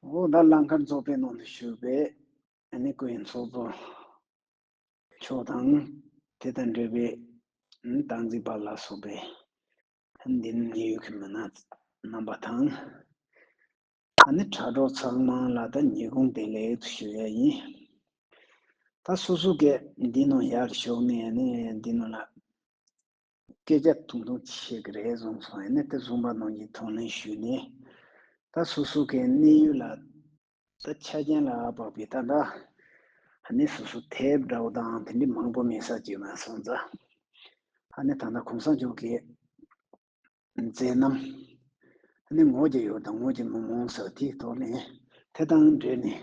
འོ་ད་ལང་ཀར་རྫོགས་པའི་ནང་དུ་ཞུགས་པས་ནི་སྐུ་ཡི་ཚོགས་རྫོགས། མཆོག་དང་དེ་དང་འབྲེལ་པའི་སྟངས་འཛིན་པ་ལ་སོགས་པའི་འདི་ནི་ཉེ་ཡོད་ཀྱི་མི་སྣ་རྣམ་པ་དང། ད་ནི་དྲ་གྲོགས་ཚང་མ་ལ་ད་ཉེ་གུང་བདེ་ལེགས་དུ་ཞུ་ཡ་ཡིན། ད་སོ་སོ་གས་འདི་ནང་ཡར་ཞོག་ནས་ནི་འདི་ནང་ལ་སྐད་ཆ་ཐུང་ཐུང་བཤད་ཀྱི་རེད་བཟུང་སོང་ཡིན་ན་དེ་བཟུང་པ་རྣམས་ཀྱིས་དོ་སྣང་ཞུས་ནས་ད་སུ་སུ་ཀའི་གནས་ཡུལ་ལ་ད་ཆ་རྒྱན་ལ་དཔག་པའི་ད་འདྲ་ཧ་ནི་སུ་སུ་དེབ་འདྲ་བོ་དང་དེ་འདྲའི་མང་པོ་མིན་ས་བྱས་མ་སོང་ཙང་ཧ་ནི་ད་འདྲ་གོང་ས་མཆོག་གི་མཛད་རྣམ་ཧ་ནི་ངོ་རྒྱ་ཡོད་དང་ངོ་རྒྱ་མི་མང་ས་དེ་དོ་ནས་དེ་དང་འབྲེལ་ནས་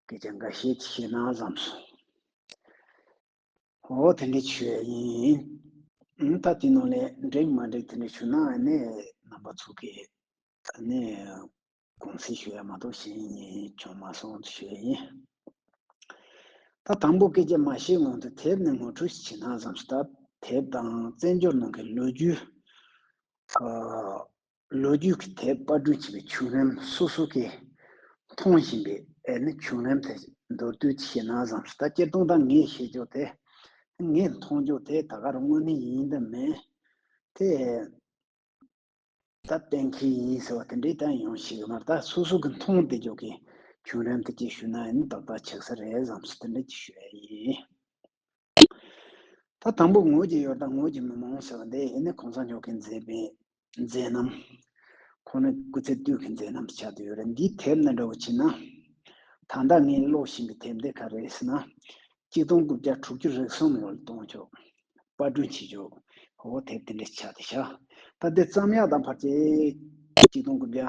སྐད་ཆ་འགའ་བཤད་ཅི་ཤེས་ན་བཟང་སོང། འོ་དེ་འདྲའི་ཆོས་ཡིན། ད་དེ་ནང་ལས་འགྲིག་མ་འགྲིག་དེ་འདྲ་བྱུང་ན་ནི་རྣམ་པ་ཚུགས་ཀྱི། ད་ནི་གུང་ཚིགས་ཞུ་ཡ་མ་གཏོགས་གཞན་གཉིས་བྱུང་མ་སོང་ཆོས་ཡིན། ད་དང་པོ་སྐད་ཆ་མ་བཤད་སྔོན་དུ་དེབ་ནས་ངོ་འཕྲོད་ཞིག་བྱེད་ན་བསམ་ཞིག་ད་དེབ་དང་བཙན་བྱོལ་ནང་གི་ལོ་རྒྱུས། ལོ་རྒྱུས་ཀྱི་ཐད་དཔར་སྐྲུན་བྱས་པའི་བྱུང་རིམ་སོ་སོ་གས་མཐོང་བཞིན་པའི་བྱུང་རིམ་དེ་མདོར་བསྡུས་ཀྱིས་བཤད་ན་བཟང་ཞིང་ད་སྤྱིར་བཏང་ད་ངས་བཤད་ཕྱོགས་དེ་ངས་མཐོང་ཕྱོགས་དེ་ད་གར་དངོས་གནས་ཡིན་དུ་མེད་དེ། ད་གཏན་འཁེལ་ཡིན་ཟེར་བ་དེ་འདྲའི་ད་ཡོང་ཞིག་མ་རེད་ད་སོ་སོ་གས་མཐོང་བདེ་ཕྱོགས་ཀྱི་བྱུང་རིམ་དེ་གཅིག་ཞུས་ན་ཏག་ཏག་ཆགས་ས་རེད་བསམ་ཞིང་དེ་འདྲ་གཅིག་ཞུ་ཡ་ཡིན། ད་དང་པོ་ངོས་ཀྱི་ཡོ་ད་ངོས་ཀྱི་མི་མང་ཟེར་བ་འདི་ཡིན་ནི་གོང་ས་མཆོག་གིས་མཛད་པའི་མཛད་རྣམ། ཁོང་ནི་སྐུ་ཚེ་སྟོད་ཀྱི་མཛད་རྣམ་དུ་ཆགས་ཏེ་ཡོད་རེད། འདིའི་དེབ་ནི་འདྲ་བོ་མཆིས་ན། ད་ལྟ་ངས་ཀློག་བཞིན་པའི་དེབ་འདི་ག་རེ་ཟེར་ན། གཅིག་སྟོང་དགུ་བརྒྱ་དྲུག་ཅུ་རེ་གསུམ་ལོར་གཏོང་ཆོག། དཔར་སྐྲུན་བྱེད་ཆོག། འོ་དེབ་དེ་འདྲ་ཆགས་ཏེ་བཞག། ད་དེ་ཙམ་ཡག་དང་བར་ཆད། གཅིག་སྟོང་དགུ་བརྒྱ།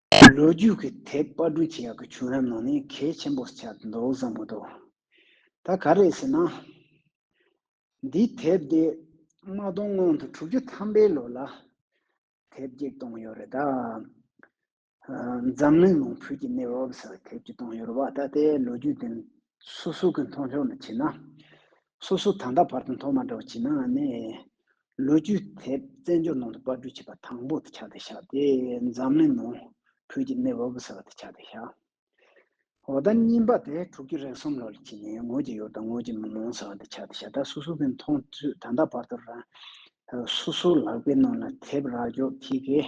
ལོ་རྒྱུས་ཀྱི་དེབ་དཔར་བསྐྲུན་བྱེད་ཡག་གི་བྱུང་རབས་ནང་ནས་གལ་ཆེན་པོ་ཆགས་འདུག་བསམ་མོ་འདུག་ད་ག་རེད་ཟེར་ན། འདི་དེབ་འདི་དམག་དོན་སྔོན་དུ་དྲུག་ཅུ་ཐམ་པའི་ལོ་ལ་དེབ་སྐྱེལ་གཏོང་ཡོད་རེད་ད། འཛམ་གླིང་ནང་བོད་ཀྱི་གནས་བབ་ཟེར་བའི་དེབ་སྐྱེལ་གཏོང་ཡོད་རེད་བ་ད་ལྟའི་ལོ་རྒྱུས་འདི་སོ་སོ་གི་མཐོང་ཕྱོགས་ལ་བྱེད་ན། སོ་སོ་ད་ལྟ་བར་དུ་མཐོང་མ་འདྲ་བ་བྱེད་ནའང་ནི། ལོ་རྒྱུས་དེབ་བཙན་བྱོལ་ནང་དུ་དཔར་སྐྲུན་བྱས་པ་དང་པོ་དེ་ཆགས་བསྡད་བཞག་སྟེ་འཛམ་གླིང་ནང་བོད་ཀྱི་གནས་བབ་ཟེར་བ་དེ་ཆགས་བསྡད་བཞག། འོ་ད་རྙིང་པ་དེ་དྲུག་ཅུ་རེ་གསུམ་ལོར་ཕྱིན་ནས་ངོས་ཀྱི་ཡོད་དང་ངོས་ཀྱི་མི་མང་ཟེར་བ་དེ་ཆགས་བསྡད་བཞག་ད་སོ་སོ་གི་མཐོང་ཚུལ་ད་ལྟ་བར་དུ་རང་སོ་སོའི་ལག་པའི་ནང་ལ་དེབ་རག་འཇོག་གྱིས།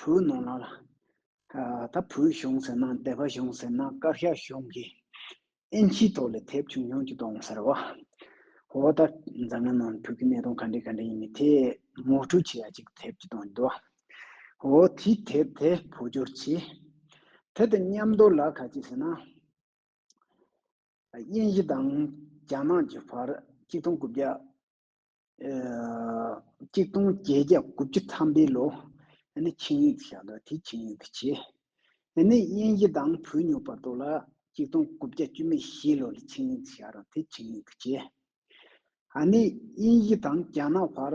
བོད་ནང་ལ་ད་བོད་གཞུང་ཟེར་ན་སྡེ་པ་གཞུང་ཟེར་ན་བཀའ་ཤག་གཞུང་གི་ཨེན་ཆིའི་ཐོག་ལས་ཐེབས་བྱུང་ཡོང་གི་གཏོང་ཟེར་བ། ཧོ་ད་འཛམ་གླིང་ནང་བོད་ཀྱི་གནད་དོན་ག་འདྲའི་ག་འདྲའི་ཡིན་མིན་དེ་མུག་ཁྲུལ་བྱེད་ཡ་ཅིག་ཐེབས་ཀྱི་གཏོང་གི་འདུག་བ། འོ་དེ་ཐེབས་དེ་བོད་སྦྱོར་བྱས། དེ་དང་མཉམ་དུ་ལ་ག་ཅིག་ཟེར་ན། དབྱིན་ཡི་དང་རྒྱ་ནག་གི་བར་གཅིག་སྟོང་དགུ་བརྒྱ་གཅིག་སྟོང་བརྒྱད་བརྒྱ་དགུ་བཅུ་ཐམ་པའི་ལོ། ཆིངས་ཡིག་བཞག་འདུག་དེ་ཆིངས་ཡིག་ཏུ་བྱས། དབྱིན་ཡི་དང་བོད་ཉོ་བར་དོ་ལ་གཅིག་སྟོང་དགུ་བརྒྱ་བཅུ་མེད་བཞི་ལོ་ལ་ཆིངས་ཡིག་བཞག་རུང་དེ་ཆིངས་ཡིག་ཏུ་བྱས། དབྱིན་ཡི་དང་རྒྱ་ནག་བར།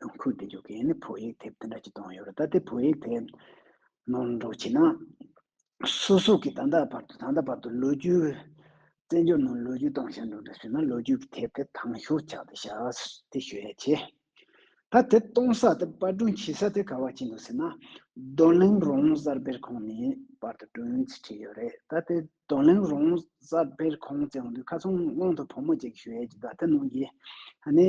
གཏམ་ཁུལ་འདི་འཇོག་མཁན་ནི་བོད་ཡིག་དེབ་དེ་འདྲ་ཅིག་གཏོང་ཡོད་རེད་ད་ལྟའི་བོད་ཡིག་དེ་ནོར་འགྲོ་བྱེད་ན། སོ་སོ་གིས་ད་ལྟ་བར་དུ་ད་ལྟ་བར་དུ་ལོ་རྒྱུས། བཙན་བྱོལ་ནང་ལོ་རྒྱུས་གཏོང་ཞེན་འགྲོ་འདྲ་བྱུང་ན་ལོ་རྒྱུས་ཀྱི་དེབ་དེ་དྭངས་ཤོས་ཆགས་ཏེ་ཞག་དེ་ཞོད་ཡ་ཆེ། ད་དེབ་གཏོང་ས་དེ་པར་སྐྲུན་བྱེད་ས་དེ་ག་བ་བྱེད་འདུག་ཟེར་ན། རྡོ་གླིང་རོང་གསར་སྤེལ་ཁང་ནས་པར་དུ་སྐྲུན་ཡོང་ཚུལ་བྲིས་ཡོད་རེད་ད་དེ་རྡོ་གླིང་རོང་གསར་སྤེལ་ཁང་བཙལ་འོང་དུས་ཁ་ཚོན་དབང་དུ་བུ་མོ་གཅིག་གིས་ཞོད་ཡ་ཅིག་ད་དེ་ནང་གི་ཨ་ནེ།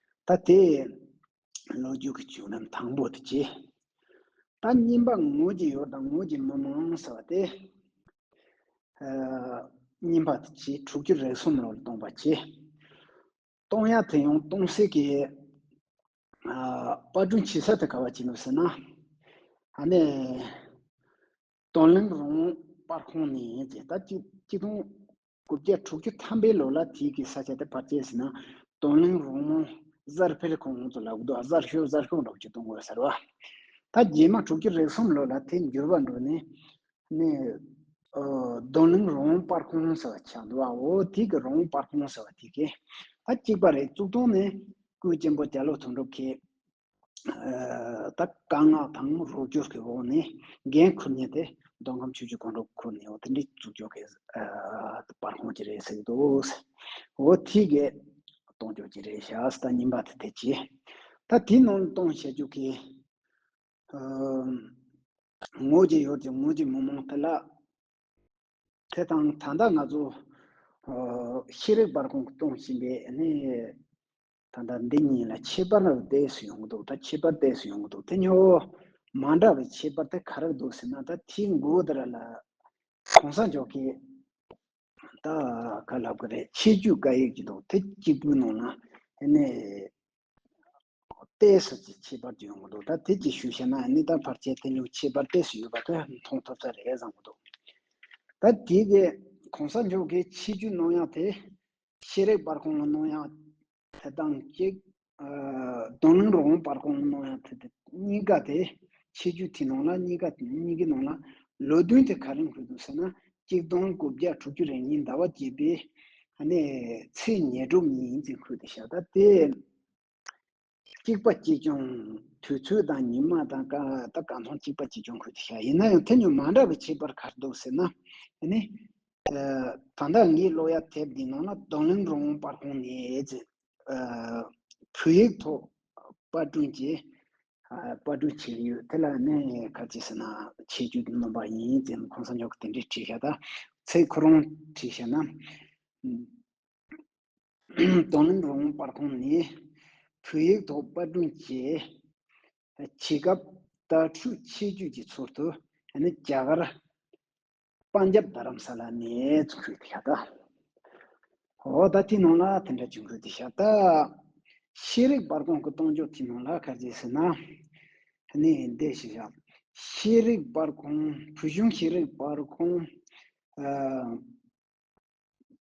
ད་དེ། ལོ་རྒྱུས་ཀྱི་བྱུང་རིམ་དང་པོ་དེ་ཇི། ད་སྙིམ་པ་ངོས་ཀྱི་ཡོར་དང་ངོས་ཀྱི་མི་མང་ཟེར་བ་དེ། སྙིམ་པ་དེ་ཇི་དྲུག་ཅུ་རེ་གསུམ་ལོར་སྟོང་པ་ཇི། སྟོང་ཡ་དེ་ཡང་སྟོང་སེ་གེ། པར་སྒྲུང་བྱེད་ས་དེ་ག་བ་ཅི་ནུབ་ཟེར་ན། ཨ་ནེ། སྟོང་གླིང་རོང་པར་ཁང་ནི་ཇི་ད་སྐྱིད་སྐྱིད་སྟོང་དགུ་བརྒྱ་དྲུག་ཅུ་ཐམ་པའི་ལོ་ལ་དུས་ཀྱི་ས་ཆ་དེ་བར་ཆད་ཟིན་ན་དོན་གླིང་རོང་མོ་གཟར་འཕེལ་ཁོང་ངོ་ཚོ་ལ་འུག་རྡོ་གཟར་ཤོར་གཟར་ཤོར་འགྲོགས་ཅིག་གཏོང་དགོས་ཟེར་བ། ད་རྗེས་མ་དྲུག་ཅུ་རེ་གསུམ་ལོ་ལ་དེ་འགྱུར་བ་འགྲོ་ནས་ནས། དོན་གླིང་རོང་མོ་སྤར་ཁོང་ཟེར་བ་ཆགས་འདུག་བ་འོ་དུས་ཀྱི་རོང་མོ་སྤར་ཁོང་ཟེར་བ་དེ་གས་ད་གཅིག་པ་རེད་གཙུག་ཏུང་ནས་སྐུའི་གཅེན་པོ་རྒྱ་ལོ་དོན་གྲུབ་ཁས་ད་བཀའ་མངགས་དང་རོགས་སྐྱོར་གྱི་འོག་ནས་འགན་ཁུར་ནས་དེ་མདོ་ཁམས་ཆུས་ཀྱི་དགོན་གྲོང་ཁུལ་ནས་འོ་དེ་འདྲའི་འཛུགས་སྐྱོང་གི་པར་ཁོང་གྱི་རེད་ཟེར་གྱི་འདུག་འོ་དེ་གས་གཏོང་རྒྱུ་གྱི་རེད་ཤག་ད་ཉིན་པ་དེ་དེ་གྱིས་ད་དེ་ནང་ལ་གཏོང་བཤད་རྒྱུ་གི་ངོས་ཀྱི་ཡོད་ཀྱི་ངོས་ཀྱི་མི་མང་དེ་ལ་དེ་དང་ད་ལྟ་ང་ཚོ་ཤེས་རིག་པར་ཁོང་གི་གཏོང་བཞིན་པའི་ད་ལྟ་འདི་གཉིས་ལ་ཁྱད་པར་བསྡད་སུ་ཡོང་གི་འདུག་ད་ཁྱད་པར་བསྡད་སུ་ཡོང་གི་འདུག་དེ་ཉོ་འོ། མ་འདྲ་བའི་ཁྱད་པར་དེ་ག་རེ་འདུག་ཟེར་ན་ད་དེའི་མགོ་བོ་དེ་ར་ལ་གོང་ས་མཆོག་གིས་ད་ག་ལབ་གི་རེད་ཆེད་བརྒྱུད་བཀའ་ཡིག་ཅིག་འདུག་དེ་གཅིག་པུའི་ནང་ན་ནི་བསྡད་སུ་ཅིག་ཁྱད་པར་ཅིག་ཡོང་གི་འདུག་ད་དེ་ཅིག་ཞུ་ཤེས་ན་ནི་ད་བར་ཆད་དེ་ཉོ་ཁྱད་པར་བསྡད་སུ་ཡོད་པ་དེ་མཐོང་ཐུབ་ས་རེད་བསམ་གི་འདུག་ད་དེ་གི་གོང་ས་མཆོག་གིས་ཆེད་བརྒྱུད་གནང་ཡག་དེ་ཤེས་རིག་པར་ཁོང་ལ་གནང་ཡང་དེ་དང་གཅིག། རྡོ་ལུང་རོང་བོ་པར་ཁོང་ལ་གནང་ཡང་དེ། གཉིས་ཀ་དེ་ཆེ་རྒྱུ་དེ་ནང་ལ་གཉིས་ཀ་གཉིས་ཀྱི་ནང་ལ་ལོ་བདུན་དེ་ག་རེང་ཕུལ་འདུག་ཟེར་ན་གཅིག་སྟོང་དགུ་བརྒྱ་དྲུག་ཅུ་རེ་གཉིས་ཟླ་བ་བརྒྱད་པའི། ནས་ཚེས་ཉེར་དྲུག་ཉིན་ཡིན་ཚེ་ཁུལ་དུ་ཤ་ད་དེ། གཅིག་པ་གཅིག་སྐྱོང་དུས་ཚོད་དང་ཉིན་མ་དང་ཀ་ད་གང་མཐོང་གཅིག་པ་གཅིག་སྐྱོང་ཁུལ་དུ་བྱ་ཡིན་ན་ཡང་དེ་ཉུང་མ་འདྲ་བའི་བྱེད་པར་གར་འདུག་ཟེར་ན་ནི། ད་ལྟ་ངའི་གློ་ཡ་དེབ་འདི་ནང་ན་རྡོ་ལིང་རོང་བོ་པར་ཧོང་ནེ་ཙེ། བོད་ཡིག་ཐོག་པར་སྐྲུན་ཅེས་པར་སྐྲུན་བྱས་ཡོད་དེ་ལ་ནི་ག་ཅེས་ཟེར་ན་ཆེ་རྒྱུད་ནོམ་པ་ཡིན་ཙེ་ཁོང་ས་ཉོ་གི་དེ་འདྲས་བྲིས་ཤ་ད་ཚེ་ཁོ་རང་བྲིས་ཤ་ན། གདོང་ལེན་རོགས་དངུལ་སྤར་ཁོངས་ནི། བོད་ཡིག་ཐོག་སྤར་སྐྲུན་བྱས། བྱེད་སྐབས་དྭ་ཕྲུག་ཆེ་བརྒྱུད་ཀྱི་ཚུལ་དུ་རྒྱ་གར་པང་རྒྱབ་རྡ་རམ་ས་ལ་ནས་བྱུང་ཁུལ་དེ་ཤ་སྟག་འོ་ད་ཐི་ནང་ལ་དེ་འདྲ་བྱུང་ཁུལ་དེ་ཤ་སྟག། ཤེས་རིག་སྤར་ཁོངས་ཀྱི་གཏོང་ཕྱོགས་ཐི་ནང་ལ་ག་རེ་བྱས་ཟེར་ན། ནི་འདི་ཞིག་ཤ་ཤེས་རིག་སྤར་ཁོངས་བོད་གཞུང་ཤེས་རིག་སྤར་ཁོངས།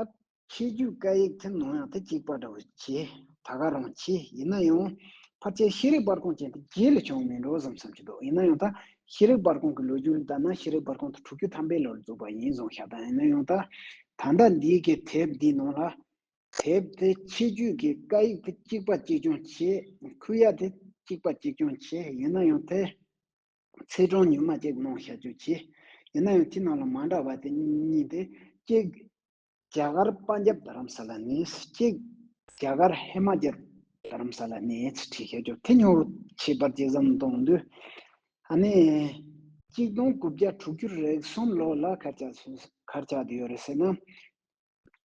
ཨ། ཆོས་རྒྱུད་བཀའ་ཡིག་ཐེངས་མང་ཡང་དེ་གཅིག་པ་འདྲ་བོ་ཆེ་ད་ག་རང་མཆིས་ཡིན་ན་ཡང་ཕར་ཆེར་ཤེས་རིག་པར་ཁང་ཅན་དེ་རྗེས་ལས་བྱུང་བ་མིན་འགྲོ་བསམ་བསམ་གྱི་འདུག་ཡིན་ན་ཡང་ད་ཤེས་རིག་པར་ཁང་གི་ལོ་རྒྱུས་ལ་ལྟ་ན་ཤེས་རིག་པར་ཁང་དུ་དྲུག་ཅུ་ཐམ་པའི་ལོར་འཛུགས་པ་ཡིན་གསུངས་ཤ་སྟག་ཡིན་ན་ཡང་ད་ད་ལྟ་འདིའི་གི་དེབ་འདིའི་ནང་ལ་དེབ་དེ་ཆོས་རྒྱུད་ཀྱི་བཀའ་ཡིག་དེ་གཅིག་པ་གཅིག་རྐྱང་ཆེ་ཁུལ་ཡ་དེ་གཅིག་པ་གཅིག་རྐྱང་ཆེ་ཡིན་ན་ཡང་དེ། ཚེས་གྲངས་ཉུང་མ་ཅིག་གནང་བཞག་རྒྱུ་བྱས། ཡིན་ན་ཡང་དེའི་ནང་ལ་མ་འདྲ་བ་དེ་གཉིས་དེ་གཅིག། རྒྱ་གར་དཔའ་འཇབ་རྡ་རམ་ས་ལ་གནས། གཅིག། རྒྱ་གར་ཧེ་མ་ཅལ་རྡ་རམ་ས་ལ་གནས་བྲིས་བཞག་རྒྱུ་དེ་ཉོ་བྱེད་པར་ཅི་ཙམ་གཏོང་འདོད། ཨ་ནི། གཅིག་སྟོང་དགུ་བརྒྱ་དྲུག་ཅུ་རེག་གསུམ་ལོ་ལ་གར་ཆགས་འདི་ཡོད་རེད་ཟེར་ན།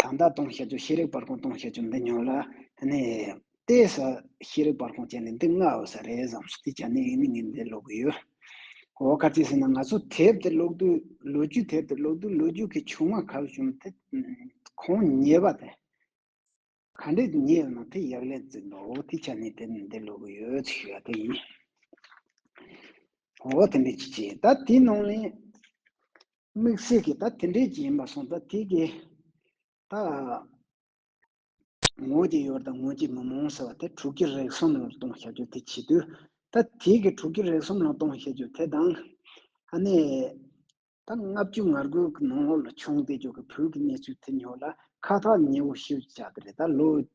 གང་དག་གཏོང་བྱེད་དུ་ཤེས་རིག་སྤར་ཁུང་གཏོང་བྱེད་ཀྱི་འདི་ཉོ་ལ་ནི། དེས་ས་ཤེས་རིག་སྤར་ཁུང་བཅད་ནས་འདི་ལྔ་འོ་ས་རེ་བཟང་ཞིག་དེ་བྱ་ནི་ཡིན་ནི་ངས་འདི་ཀློག་གི་ཡོད། འོ་ག་ཅི་ཟེར་ན་ང་ཚོ་དེབ་དེ་ཀློག་དུས་ལོ་རྒྱུས་དེབ་དེ་ཀློག་དུས་ལོ་རྒྱུས་ཀྱི་ཆུང་མ་ཁག་བྱུང་དེ་ཁོང་ཉེས་པ་དེ་ག་འདྲས་ཉེས་ཡོད་ན་དེ་ཡག་ལས་འཛིན་པའོ་དེ་བྱ་ནི་དེ་འདི་ཀློག་གི་ཡོད་ཅེས་ཞུ་བ་དེ་ཡིན། འོ་དེ་འདྲས་ཅི་བྱེད་ད་དེའི་ནང་ནས། དམིགས་བསལ་གྱིས་ད་དེ་འདྲས་ཀྱི་ཡིན་པ་སོང་ད་དེ་གི་ད། ངོས་ཀྱི་ཡོད་དང་ངོས་ཀྱི་མི་མང་ཟེར་བ་དེ་དྲུག་གི་རེག་གསུམ་ལ་གཏོང་བཤད་རྒྱུ་དེ་བྱེད་དུས་ད་དེ་གི་དྲུག་གི་རེག་གསུམ་ལ་གཏོང་བཤད་རྒྱུ་དེ་དང། ཨ་ནེ། ད་ལྔ་བཅུ་ང་དགུ་གི་ནང་ལོགས་ལ་བྱུང་བསྡད་རྒྱུ་གི་བོད་ཀྱི་གནས་ཚུལ་དེ་ཉོ་ལ་ཁ་ཐག་ཉེ་བོ་ཞིག་བཅག་དེ་རེད་ད་ལོ།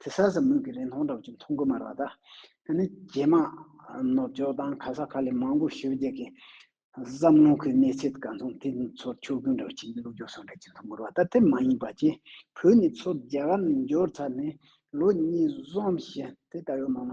དེ་ས་ས་མུག་གི་རིན་ཐང་འདྲ་བ་ཅིག་མཐོང་གི་མ་རེད་ད། དེ་ནི་རྗེས་མ་ནུབ་ཕྱོགས་དང་ཁ་ས་ཁ་ལས་མང་པོ་ཞུ་རྒྱག་གི་བསམ་བློ་ཁོའི་གནས་ཚད་གང་སོང་དེ་ཚོར་ཆོ་གུ་འདྲ་བ་ཅིག་ལུག་འཇོག་སོགས་འདྲ་ཅིག་མཐོང་གི་རེད་ད་དེ་མ་ཡིན་པ་ཅི་བོད་ནས་ཚུར་རྒྱ་གར་ནས་འབྱོར་ཚར་ནས་ལོ་གཉིས་གསུམ་ཞེ་དེ་ལྟ་བའི་མ་མ།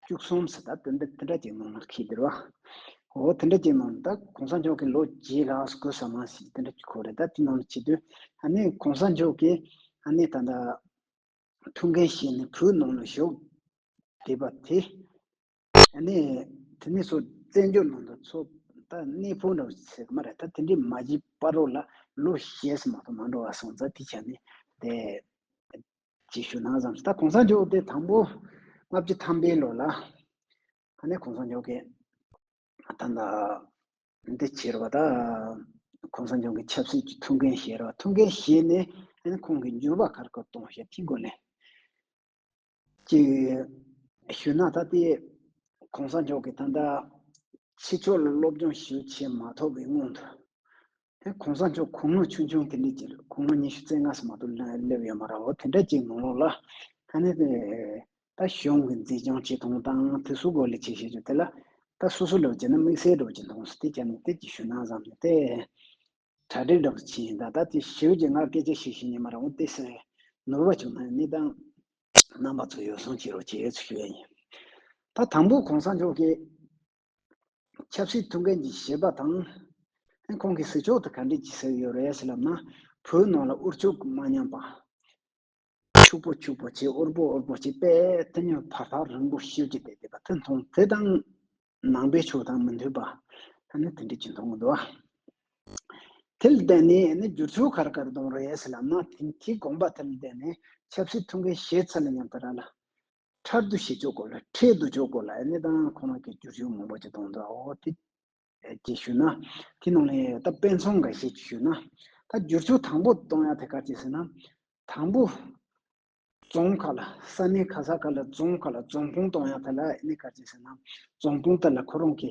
བཅུ་གསུམ་ཟེར་ད་དོན་དེ་འདྲ་ཅིག་གནང་ན་ཁྱི་ལྡིར་བ། ཨོ་དེ་འདྲ་ཅིག་གནང་ན་ད་གོང་ས་མཆོག་གིས་ལོ་བརྒྱད་ལ་ཨ་གོ་ས་མ་ཞིག་དེ་འདྲ་ཅིག་ཁོ་རེ་ད་དེ་གནང་ན་ཁྱི་ལྡིར། ཨ་ནི་གོང་ས་མཆོག་གིས་ཨ་ནི་ད་ད་ཐུགས་འགན་བཞེས་ནས་བོད་ནང་ལ་ཞོག་བསྡད་པ་དེ་ཨ་ནི་དེ་ནས་སོ་བཙན་བྱོལ་ནང་དུ་འཚོ་ད་གནས་ཕོ་འདྲ་ཟེར་གི་མ་རེད་ད་དེ་འདྲའི་མ་བྱིས་པ་རོ་ལ་ལོ་བཞེས་སུ་མ་ཐོ་མ་འགྲོ་བ་སོང་ད་དེ་བྱ་ནི་དེ། ཅིག་ཞུ་ན་བཟང་ད་གོང་ས་མཆོག་དེ་དང་པོ་ལྔ་བཅུ་ཐམ་པའི་ལོ་ལ་ཁ་ནས་གོང་ས་མཆོག་གི་ད་ན་འདི་བྱེད་རོགས་ད་གོང་ས་མཆོག་གི་ཆབ་སྲིད་ཀྱི་ཐུགས་འགན་བཞེས་རོགས་ཐུགས་འགན་བཞེས་ནས་ཨ་ནི་ཁོང་གི་འགྱུར་བ་ཁར་སྐོར་གཏོང་ཞེས་ཐིག་གོ་ནས་ཅིག་ཞུ་ན་ད་དེ་གོང་ས་མཆོག་གི་ད་ནས་ཕྱི་ཕྱོགས་ལ་སློབ་སྦྱོང་ཞིག་བྱེད་མ་ཐོབ་པའི་སྔོན་དུ་དེ་གོང་ས་མཆོག་གུང་མོ་ཆུང་ཆུང་དེ་ནས་ཀྱི་གུང་མོ་ཉི་ཤུ་རྩེ་ལྔ་སོ་མ་ཏོག་སླེབས་ཡོད་མ་ར་བ་དེ་འདྲ་ཅིག་མང་ལོ་ལ། ད་ནི་དེ་ད་གཞུང་གི་མཛེས་ལྗོངས་ཆེ་མཐོང་དང་དེ་སུ་གོ་ལས་བྱེད་ཤེས་ཆོག་དེ་ལ་ད་སུ་སུ་ལོ་བྱེད་ན་དམིགས་བསལ་འགྲོ་ཅི་མཐོང་སོ་དེ་ཅག་ནི་དེབ་ཀྱི་ཞུ་སྣང་ཙམ་ནི་དེ། གྲ་སྒྲིག་འདྲ་བོ་བྱས་ཡིན་ད་ད་དེ་ཞིབ་ཀྱི་ང་སྐད་ཆ་ཞིག་བཤད་ཉན་མ་ར་བ་དེ་སེ་ནོར་བ་བྱུང་ན་ནི་ད། རྣམ་པ་ཚོ་ཡོ་བསྲང་བྱེད་རོགས་བྱེད་ཚུལ་ཞུ་ཡ་ཡིན། ད་དང་པོ་གོང་ས་མཆོག་གིས། ཆབ་སྲིད་ཐུགས་འགན་གྱི་བཞེས་པ་དང། ཁོང་གིས་ཟིལ་ཆོག་ཏུ་ག་འདྲས་བགྱིས་ཟེར་ཡོད་རེད་ཟེར་ལབ་ན། བོད་ནང་ལ་དབུར་ཕྱུག་མ་ཉམས་པ། ཕྱུག་པོ་ཕྱུག་པོ་བྱེད་དབུར་པོ་དབུར་པོ་བྱེད་པས་དེ་ཉོན་བར་ཐག་རིང་པོ་ཤོད་ཀྱི་བསྡད་བསྡད་པ་དེ་མཐོང་དེ་དང། ནང་པའི་ཕྱོགས་དང་མི་མཐུན་པ། ད་ནི་དེ་འདྲས་ཀྱི་མཐོང་འདུག་ཨ། དེ་ལ་བརྟེན་ནས་ནི་བསྒྱུར་ཆོག་གར་གར་གཏོང་རེད་ཟེར་ལབ་ན། དེའི་དགོངས་པ་དེ་ལ་བརྟེན་ནས་ཆབ་སྲིད་ཐུགས་འགན་བཞེས་ཚར་ལ་སྙམ་ད་ར་ལ། ཁྲར་འདུ་ཤེས་ཆོས་སྐོར་ལ་ཁྲེལ་འདུ་ཆོས་སྐོར་ལ་ཨེ་ནི་དང་ཁོ་རང་གི་རྒྱུ་ཆོས་མང་པོ་ཅིག་གཏོང་འདུག་ཨོ་དེ་ཅི་ཞུ་ན། དེ་ནང་ནས་ད་དཔེ་མཚོན་འགའ་ཞིག་ཅིག་ཞུ་ན། ད་རྒྱུ་ཆོས་དང་པོ་གཏོང་ཡ་དེ་ག་ཅིག་ཟེར་ན། དང་པོ། རྫོང་ཁག་ལ་ས་གནས་ཁ་ས་ཁག་ལ་རྫོང་ཁག་ལ་རྫོང་ཁོངས་གཏོང་ཡ་དེ་ལ་ཨེ་ནི་ག་ཅིག་ཟེར་ན། རྫོང་དཔུང་སྟར་ལ་ཁོ་རང་གི་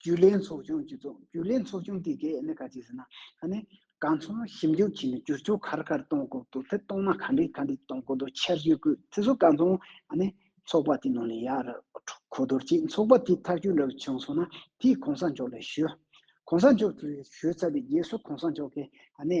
རྒྱུས་ལེན་ཚོགས་ཆུང་བཅུ་བཙུགས། རྒྱུས་ལེན་ཚོགས་ཆུང་དེ་གས་ནི་ག་ཅིག་ཟེར་ན། ཧ་ནི། གང་མཚོན་ན་ཞིབ་འཇུག་བྱས་ནས་བསྒྱུར་བཅོས་ག་རེ་ག་རེ་གཏོང་དགོས་དགོས་དེ་གཏོང་ན་ག་འདྲི་ག་འདྲི་གཏོང་དགོས་དོ་འཆར་གཞི་བཀོད་དེ་ཚོ་གང་མཚོན་ཨ་ནི། ཚོགས་པ་དེ་ནང་ནས་ཡག་རེད་གོ་བསྡུར་གྱིས་ཚོགས་པ་དེ་ཐག་གཅོད་འདྲ་བོ་བྱུང་སོང་ན་དེས་གོང་ས་མཆོག་ལ་ཞུ། གོང་ས་མཆོག་གིས་ཞུས་ཚར་བའི་རྗེས་སུ་གོང་ས་མཆོག་གིས་ཨ་ནི།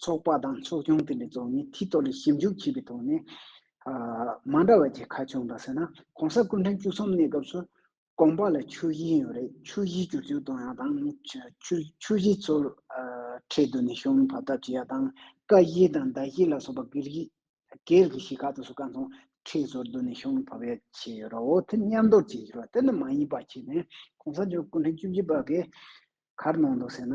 ཚོགས་པ་དང་ཚོགས་ཆུང་དེ་ལས་གཙོ་བོ་ནི་མཐིལ་རྟོགས་ལས་ཞིབ་འཇུག་བྱས་པའི་ཐོག་ནས། མ་འདྲ་བ་ཅི་ཁ་བྱུང་དང་ཟེར་ན ྋགོང་ས་སྐུ་ཕྲེང་བཅུ་གསུམ་གནས་སྐབས་སུ ྋགོང་པ་ལ་ཆུ་བཞི་ཡོད་རེད་ཆུ་བཞི་བཅུ་བཅུ་གཏོང་ཡག་དང་ཆུ་བཞི་ཚུར་ཁྲལ་དུ་ནས་ཤོམ་བབ་ཐབས་བྱེད་ཡག་དང་ཀ་བཞི་དང་ཟླ་བཞི་ལ་སོགས་པ་སྒེར་གྱི་གཞིས་ཁག་ཏུ་སུ་ཁ་མཚོན་ཁྲལ་ཚུར་དུ་ནས་ཤོམ་བབ་ཡག་བྱས་ཡོད་ར་འོ་དེ་མཉམ་འདོར་བྱས་ཡོད་ར་དེ་ནི་མ་ཡིན་པ་བྱས་ནས ྋགོང་ས་མཆོག་སྐུ་ཕྲེང་བཅུ་བཞི་པ་གས་གར་གནང་འདུག་ཟེར་ན།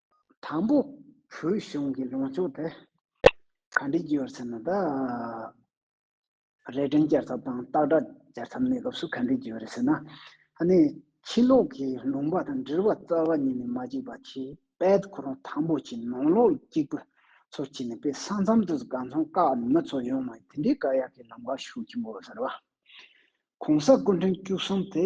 དང་པོ། བོད་གཞུང་གི་ལོངས་སྤྱོད་དེ་ག་འདྲས་རྒྱུ་བར་ཟེར་ན་ད། རས་ཀྲན་བསྐྱར་ཚབ་དང་སྟག་སྒྲ་བསྐྱར་ཚབ་གནས་སྐབས་སུ་ག་འདྲས་རྒྱུ་བ་རེད་ཟེར་ན། ཧ་ནི་ཕྱི་ལོགས་ཀྱི་ལུང་པ་དང་འབྲེལ་བ་རྩ་བ་ཉིད་ནས་མ་གཅིག་པ་ཆེ་པད་ཁོ་རང་དང་པོ་ཆེ་ནང་ལོགས་གཅིག་པུ་ཚོ་ཆེ་ནས་པད་ས་མཚམས་དུ་ག་ཚང་བཀག་ནས་མི་ཚོ་ཡོང་མ་དེ་འདྲའི་བཀག་ཡག་གི་ལམ་ཁ་ཞུགས་ཀྱི་འགོ་ཟེར་བ། གོང་ས་སྐུ་མགྲོན་བཅུ་གསུམ་དེ།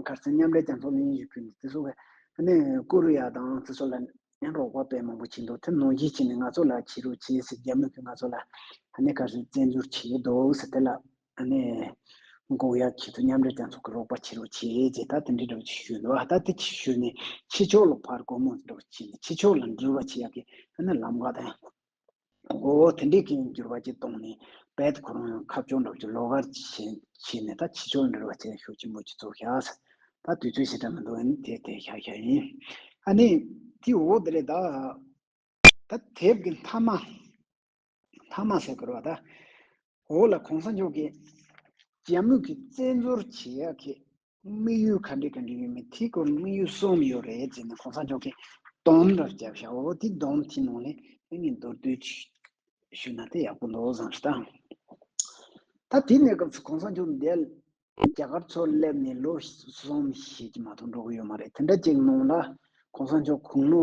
མཁར་རྩེ་མཉམ་འབྲེལ་རྒྱང་ཐོག་གླིང་གཞིས་ཁུལ་ནས་བརྩི་སྲོལ་བས་ནི་ཀོ་རུ་ཡ་དང་བརྩི་སྲོལ་ལ་ནི་རོགས་པ་པས་མང་པོ་བྱས་འདུག་ཐུན་མོང་གཞིས་བྱེས་ནས་ང་ཚོ་ལ་ཕྱི་རུ་ཕྱི་སྲིད་རྒྱ་མོས་ཀྱིས་ང་ཚོ་ལ་ནི་མཁར་རྩེ་བཙན་འཛུལ་བྱས་ཡོད་འདུག་ཟེར་དེ་ལ་ནི་ཀོ་རུ་ཡ་ཁྱེད་ཚོ་མཉམ་འབྲེལ་རྒྱང་ཚོགས་ཀྱི་རོགས་པ་ཕྱི་རུ་ཕྱི་རྗེས་ད་དེ་འདྲའི་སྒྲོག་ཅིག་ཞུས་འདུག་ད་དེ་ཅིག་ཞུས་ནས་ཕྱི་ཕྱོགས་ལ་ཕར་རྒོལ་མོ་སྒྲོག་ཅིག་ནས་ཕྱི་ཕྱོགས་ལ་འགྲུལ་བ་ཆེ་ཡག་གི་ནི་ལམ་ཀ་དང། མགོ་བོ་དེ་འདྲའི་གིང་འགྱུར་བ་གཅིག་གཏོང་ནས་བལ་དུ་ཁོ་རང་ཡང་ཁ་བཅོ་འདྲོགས་ཀྱི་ལོ་གར་བྱས་ནས་ད་ཕྱི་ཕྱོགས་འབྲེལ་བ་ཚན་ཞུགས་ཆེན་པོ་གཅིག་ཚོགས་ཤག་ད་དུས་ཚོད་ཞེ་དྲག་མི་འདུག་ཨ་ནི་དེ་དེ་ཤག་ཤག་ཡིན་ཨ་ནི་དེ་འོ་དེ་རེད་ད། ད་དེབ་ཀྱི་མཐའ་མ་མཐའ་མ་ཟེར་དགོས་ར་བ་ད། འོ་ལ་གོང་ས་མཆོག་གིས་རྒྱ་མུས་ཀྱི་བཙན་འཛུལ་བྱེད་ཡག་གི་དམིགས་ཡུལ་ག་འདྲའི་ག་འདྲའི་ཡོད་མེད་དེའི་སྐོར་ནས་དམིགས་ཡུལ་གསུམ་ཡོད་རེད་ཅེས་ནས་གོང་ས་མཆོག་གིས་སྡོམ་འདྲ་བརྒྱབ་ཤག་འོ་དེ་སྡོམ་དེའི་ནང་ནས་ཨེ་ངས་མདོར་བསྡུས་ཞུས་ན་དེ་ཡག་པོ་འདུག་བསམ་ཞེས་དང། ད་དེ་གནས་སྐབས་སུ་གོང་ས་མཆོག་འདས་ལ་རྒྱ་གར་ཚོར་སླེབས་ནས་ལོ་གསུམ་ཞིག་མ་ཐུག་འགྲོ་གི་ཡོད་མ་རེད་དེ་འདྲ་ཅིག་གནང་ལ་གོང་ས་མཆོག་གུང་ལོ་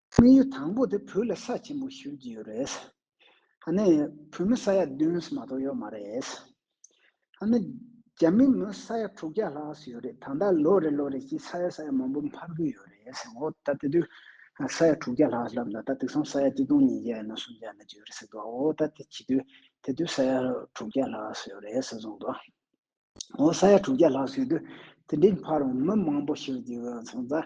དམིགས་ཡུལ་དང་པོ་དེ་བོད་ལ་ས་ཆེན་པོ་ཞུ་རྒྱུ་ཡོད་རེད། ཧ་ནི་བོད་མི་ས་ཡ་བདུན་སུ་མ་གཏོགས་ཡོད་མ་རེད། ཧ་ནི་རྒྱ་མི་མི་ས་ཡ་དྲུག་བརྒྱ་ལྷག་སུ་ཡོད་རེད་ད་ལྟ་ལོ་རེ་ལོ་རེ་བཞིན་ས་ཡ་ས་ཡ་མང་པོ་འཕར་གྱི་ཡོད་རེད་འོ་ད་དེ་དུས་ས་ཡ་དྲུག་བརྒྱ་ལྷག་ལབ་ན་ད་དུས་སང་ས་ཡ་བཅུ་སྟོང་ཉིས་བརྒྱ་ཡང་ན་སུམ་བརྒྱ་ཡང་ན་བརྒྱད་རེད་ཟེར་དུའོ་ད་དེ་བྱེད་དུས་དེ་དུས་ས་ཡ་དྲུག་བརྒྱ་ལྷག་སུ་ཡོད་རེད་ཟེར་གསུངས་འདུག་འོ་ས་ཡ་དྲུག་བརྒྱ་ལྷག་སུ་ཡོད་དུས་དེ་འདྲའི་འཕར་བ་མི་མང་པོ་ཞུ་རྒྱུ་ཡོད་གསུངས་ཙང་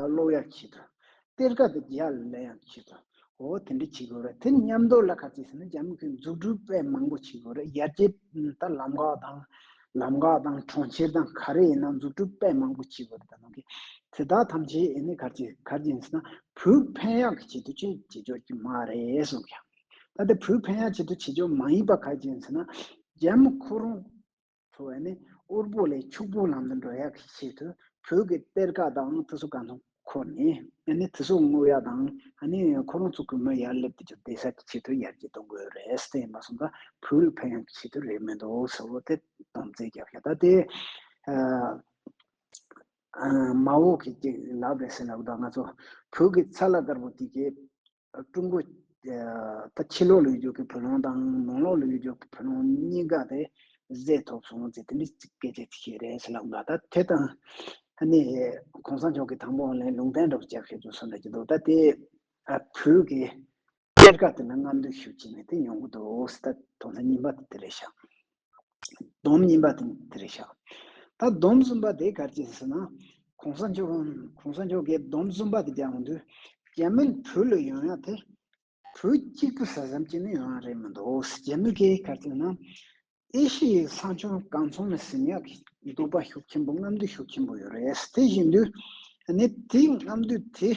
གློག་ཡར་འཁྱིལ་ཏོ། གཏེར་ཁ་དང་རྒྱལ་ཡར་ལས་ཡང་འཁྱིལ་ཏོ། འོ་དེ་འདྲ་བྱེད་དགོས་རེད། དེ་མཉམ་དུ་ལ་ཁ་ཅིག་ཟེར་ན་རྒྱ་མི་ཁོས་འཛུགས་སྐྲུན་དཔེ་མང་པོ་བྱེད་དགོས་རེད་ཡར་རྒྱས་ད་ལམ་འགག་དང། ལམ་འགག་དང་གྲོང་ཁྱེར་དང་ག་རེ་ཡིན་ན་འཛུགས་སྐྲུན་དཔེ་མང་པོ་བྱེད་དགོས་རེད་ད་ནང་གི། དེ་དག་ཐམས་ཅད་ཡིན་ནི་གར་གྱི་གར་གྱི་ཟེར་ན་བུ་ཕན་ཡག་གི་བྱེད་དུ་བཅུག་བྱེད་ཆོག་གི་མ་རེད་གསུངས་ཀྱང། ད་དེ་བུ་ཕན་ཡག་བྱེད་དུ་བྱེད་ཆོག་མ་ཡིན་པ་ག་གྱི་ཡིན་ཟེར་ན། རྒྱ་མི་ཁོ་རང། འཚོ་བ་ནི་དབུལ་པོ་ལས་ཕྱུག་པོའི་ལམ་དུ་འགྲོ་ཡག་གི་ཆེད་དུ་བོད་ཀྱི་གཏེར་ཁ་དང་དུ་སུ་གང་ཐུབ་ཁོ་ནས་ནི་དུ་སུ་བསྔོག་ཡག་དང་ནི་ཁོ་རང་ཚོ་གུས་མོ་ཡར་སླེབས་དུ་གྱུར་བདེ་གསལ་གྱི་ཆེད་དུ་ཡར་རྒྱས་གཏོང་དགོས་རེད་བསྟན་ཡིན་པ་སོང་ཙང་བོད་རིགས་ཕན་ཡོང་གི་ཆེད་དུ་རེད་མི་འདུག་ཟེར་བ་དེ་སྡོམ་བརྩེ་རྒྱབ་ཤ་ད་དེ་མ་འོག་གི་ལབ་རེད་ཟེར་ལབ་དང་ང་ཚོ་བོད་ཀྱི་ཚ་ལ་དཀར་པོ་དེ་གས། ཀྲུང་གོས་ད་ཕྱི་ལོག་ལུགས་ཀྱི་བུ་ལོང་དང་ནང་ལོག་ལུགས་ཀྱི་བུ་ལོང་གཉིས་ཀ་དེ་བཟས་ཐོག་སོང་ཟེར་དེ་འདྲའི་སྐད་ཆ་དེ་བཤད་རེས་ལབ་ལ་ད་དེ་དང་ནི ྋགོང་ས་མཆོག་གི་དང་པོ་ནི་ལུང་བསྟན་འགྲོ་བར་བྱ་ཞེས་ཚུར་གསུངས་གི་འདུག་ད་དེ་བོད་ཀྱི་གཏེར་ཁ་དེ་ནི་རྔམ་སྟོན་ཞུ་ཅི་ནས་དེ་ཉོ་གི་འདུག་ད་དོན་དུ་ཉིན་པ་དེ་དེ་རེད་ཤག། སྡོམ་གཉིས་པ་དང་དེར་བཞག། ད་སྡོམ་གསུམ་པ་དེ་གར་སྐྱེས་ཟེར་ན། གོང་ས་མཆོག་གོང་ས་མཆོག་གིས་སྡོམ་གསུམ་པ་དེ་ཀྱང་འདུས། རྒྱ་མིར་བུ་ལ་ཡོང་ཡག་དེ། བུ་གཅིག་པུ་ཟ་བསམ་གྱི་ནི་ཡོང་ཡག་རེད་མི་འདུག་རྒྱ་མི་དེ་གར་སྐྱེས་ན། ཨེ་ཤི་ཡའི་ས་མཆོག་གང་ཚོང་ནས་ཟིན་ཡག་གི་འདུག་པ་ཤུགས་ཆེན་པོ་རྔམ་འདུས་ཤུགས་ཆེན་པོ་ཡོད་རེད་དེ་བཞིན་དུ། ནི་དེའི་རྔམ་འདུས་དེ།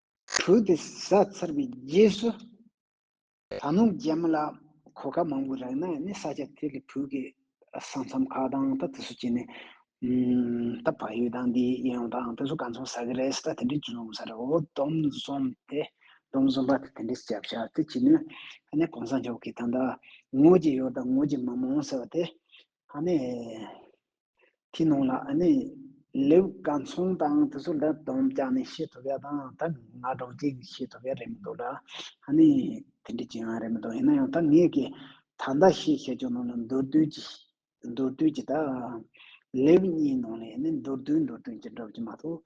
བྲུལ་ཏེ་བཟའ་ཚར་བའི་རྗེས་སུ། ད་ནངས་རྒྱལ་མོ་ལ་གོ་སྐབས་མང་པོ་རག་ན་ནི་ས་ཆ་དེ་ལས་བུ་གའི་ས་མཚམས་ཁག་དང་ད་དེ་སུ་བྱས་ནས། ད་བག་ཡོད་དང་འདི་ཡིན་ཡོང་དང་དེ་སུ་ག་ཚོང་ཟ་གི་རེད་ཟེར་ད་དེ་འདྲའི་ཅུང་ཟད་རེ་འོ་དོམ་བཟོམ་སྟེ། དོམ་བཟོམ་པ་དེ་དེ་འདྲའི་སྐྱབས་བྱ་དེ་བྱས་ནས། ད་ནི་གོང་ས་མཆོག་གིས་ད་ལྟ་དངུལ་གྱི་ཡོད་དང་དངུལ་གྱི་མ་མང་ཟེར་བ་དེ། ཨ་ནི། དེའི་ནང་ལ་ཨ་ནི། ལེའུ་སྐར་མཚུངས་དང་དེ་ཚོ་ལ་དོན་རྐྱང་ནི་ཤེས་ཐུབ་ཡ་དང་ད་ང་སྒྲོག་ཅིག་ནི་ཤེས་ཐུབ་ཡ་རེད་མི་འདུག་ལ་ཨ་ནི། དེ་འདྲའི་ཅི་ཡང་རེད་མི་འདུག་ཡིན་ན་ཡང་ད་ངས་ཀྱི་ད་ཟླ་ཤེས་བྱ་ཅུང་ནང་ལ་མདོར་བསྡུས་ཀྱི་མདོར་བསྡུས་ཀྱི་ད། ལེའུ་གཉིས་ནང་ལས་ཨ་ནི་མདོར་བསྡུས་མདོར་བསྡུས་ཀྱི་འགྲོ་གི་མ་གཏོགས།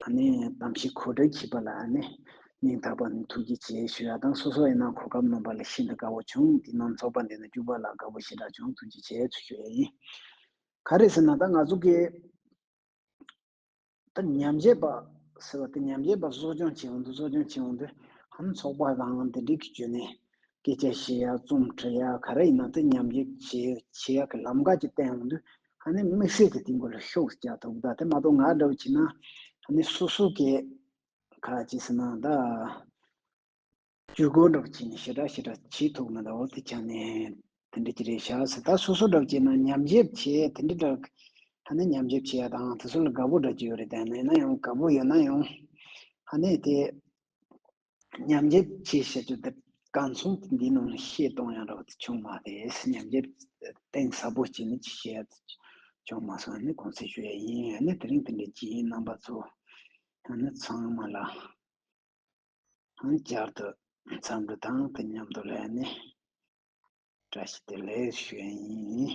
ད་ནི་གཏམ་བཤད་གོ་སྒྲ་འཁྱིལ་པ་ལ་ནི་སྙིང་ཐག་པ་ནས་ཐུགས་རྗེ་ཆེ་ཞུ་ཡ་དང་སོ་སོ་ཡིན་ན་གོ་སྐབས་སྣོམ་པ་ལ་ཤིན་ཏུ་དགའ་བོ་བྱུང་འདི་ནང་ཚོགས་པ་འདི་ནས་བསྐྱུར་པ་ལ་དགའ་བོ་ཞེ་དྲག་བྱུང་ཐུགས་རྗེ་ཆེ་ཚུལ་ཞུ་ཡ་ཡིན་ག་རེད་ཟེར་ན་ད་ང་ཚོ་གི་ད་ཉམས་བྱེད་པ་ཟེར་བ་དེ་ཉམས་བྱེད་པ་གསོ་སྐྱོང་བྱེད་འོང་དུ་གསོ་སྐྱོང་བྱེད་འོང་དུ་ཧམ་ཚོགས་པ་དང་དེ་འགྲིག་གི་བརྗོད་ནས་སྐད་ཆ་བཤད་ཡ་རྩོམ་འབྲི་ཡ་ག་རེ་ཡིན་ན་དེ་ཉམས་བྱེད་བྱེད་ཡ་གི་ལམ་ཁ་ཅིག་བསྟན་འོང་དུ་ཧ་ནི་དམིགས་བསལ་གྱི་དེང་གོ་ལ་ཤོག་ཅག་དོ་གདའ་དེ་མ་གཏོགས་ང་འདྲ་བོ་བྱས་ན་ཧ་ནི་སུ་སུ་ཀའི་ཁ་ཅི་ཟེར་ན་གདའ། ཇུས་འགོད་འདྲ་བོ་བྱས་ནས་ཞེ་དྲག་ཞེ་དྲག་ཇི་ཐུག་ན་དྭོགས་ཏེ་བྱ་ནས་དེ་འདྲ་གྱི་རེད་ཤག་ཟེར་ད་སུ་སུ་འདྲ་བོ་བྱས་ན་ཉམས་ཞིབ་བྱས་དེ་འདྲ་འདྲ་གི་ཧ་ནི་ཉམས་ཞིབ་བྱས་ཡ་དང་དེ་ཚོ་ལ་དགའ་པོ་འདྲ་གྱི་ཡོད་རེད་དཱ་ཡིན་ན་ཡང་དགའ་པོ་ཡོད་ན་ཡང་ཧ་ནི་དེ། ཉམས་རྒྱས་བཅས་བྱེད་རྒྱུ་དེ་གང་མཚུངས་ཏེ་འདིའི་ནང་བཤད་གཏོང་ཡང་རག་བྱུང་མ་རེད་ཉམས་རྒྱས་གཏིང་ཟབ་པོ་བྱས་ནས་ཅི་བྱས་བྱུང་མ་སོང་ནི་གོང་གསལ་ཞུ་ཡ་ཡིན་ཡང་ནི་དེ་རིང་དེ་འདྲའི་རྗེས་ཡིན་རྣམ་པ་ཚོ་ཡང་ནི་ཚང་མ་ལ་ཡང་བསྐྱར་དུ་འཚམས་འདྲི་དང་དེ་མཉམ་དུ་ལས་ནི་བཀྲ་ཤིས་བདེ་ལེགས་ཞུ་ཡ་ཡིན།